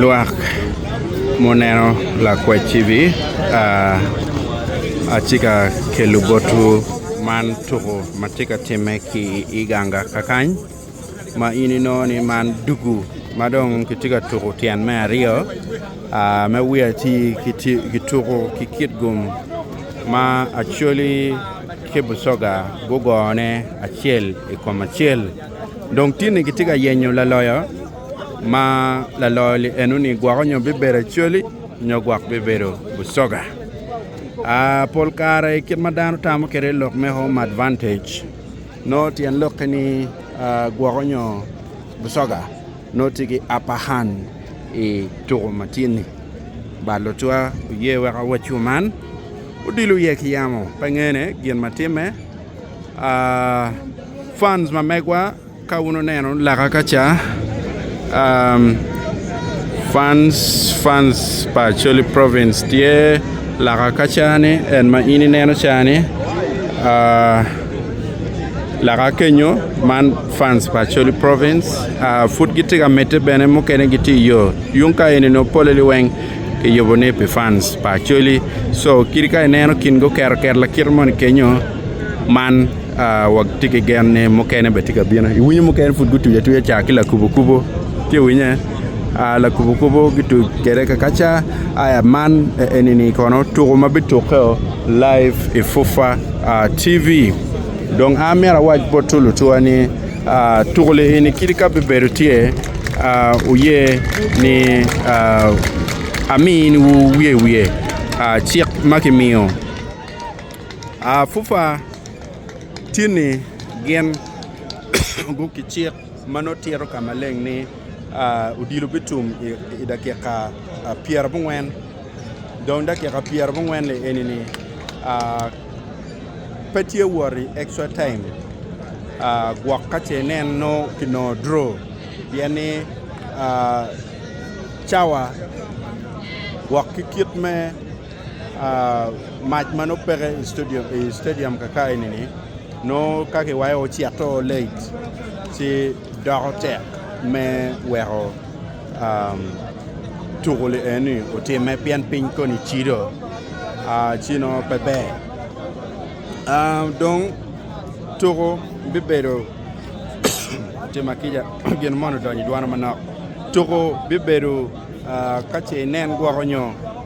lwak ma oneno lakwacci-ni atye ka kelo botwu man tuku. ma tye ka timme ki i ganga kakany ma in inongo ni man dugu ma dong kitye ka tuku tyen me aryo ma wiye atir kituku ki kit gum ma Acholi ki Busoga gugone acel i kom acel dong tinni kitye ka yenyo laloyo ma laloyo-ni eno ni gwoko nyo bibedo Acholi. nyo gwok bibedo busoga. Uh, pol kare kit ma dano tamo kede lok me home advantage no tyen lokke ni uh, gwok onyo busoga no tye ki upper hand i tuko ma tye ni. Ba lutwa oye weka wacu man odilo iye ki yamo pe ngene gin ma timme. Uh, fans ma megwa Ka wun oneno laka ka ca, Fans, Fans pa Acholi Province tye laka ka ca ni en ma in ineno ca ni laka kenyo man Fans pa Acholi Province pud gitye ka medde bene mukene gitye iyo yung ka eni nongo polle ni weng kiyubo ni pi Fans pa Acholi so kit ka ineno kin gi oketo ket lakite moni kenyo man watye ki gen ni mukene bene tye ka bino. Iwinyo mukene pud gutuc atuca ca ki lakubokubo, ci iwinye? Aa, lakubokubo gituc kwede kakaca. Aya man enini kono tuko ma bitukke-o laib i FUFA TV. Dong an myero awac bot lutuwa ni tuko eni kadi ka bibedo tye, wuye ni ami ni wuye wiye cik ma kimiyo. Apupa tye ni gin guruko ki cik ma nongo tito ka maleng ni odilo bitum i dakika pyera abongwen dong dakika pyera abongwen ni eni ni pe tye wot i extra time gwok ka ce nen nongo ki nongo dro pien ni cawa gwok ki kit me mac ma nongo peke i stadium kaka eni-ni nongo ka kiwayo ocito late ci doko tek me weko tuko lienoni otimme pien piny koni cido ci nongo pe ber dong tuko bibedo tim akica gin moni odonyo idwona manok tuko bibedo ka ce inen gwoko nyo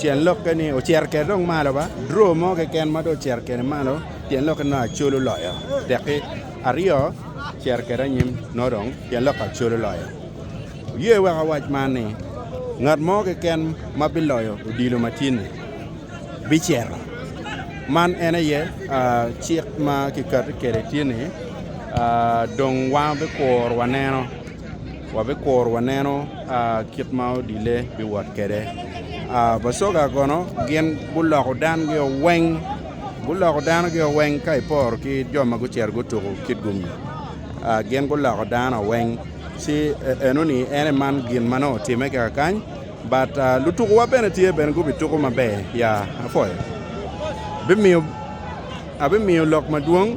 Tyen lokke ni ocito kede dong malo ba, draw mo keken ma dong ocito kede malo tyen lokke ni Acol oloyo tekki aryo ocito kede anyim nongo dong tyen lokke Acol oloyo. Wuye wek awac man ni ngat mo keken ma biloyo odilo ma tye ni bicito man en aye cik ma kiketo kede tye ni dong wan bikuru waneno. wabikuro waneno kit ma odile biwot kwede. Bacoga kono gin guloko dangi weng guloko danogi weng ka iporo ki jo ma gucito gutuko kit gumi gin guloko dano weng ci enoni en aye man gin ma nongo otimme kika kany but lutukuwa bene tye bene gubituko maber ya apwoyo abimiyo lok madwong.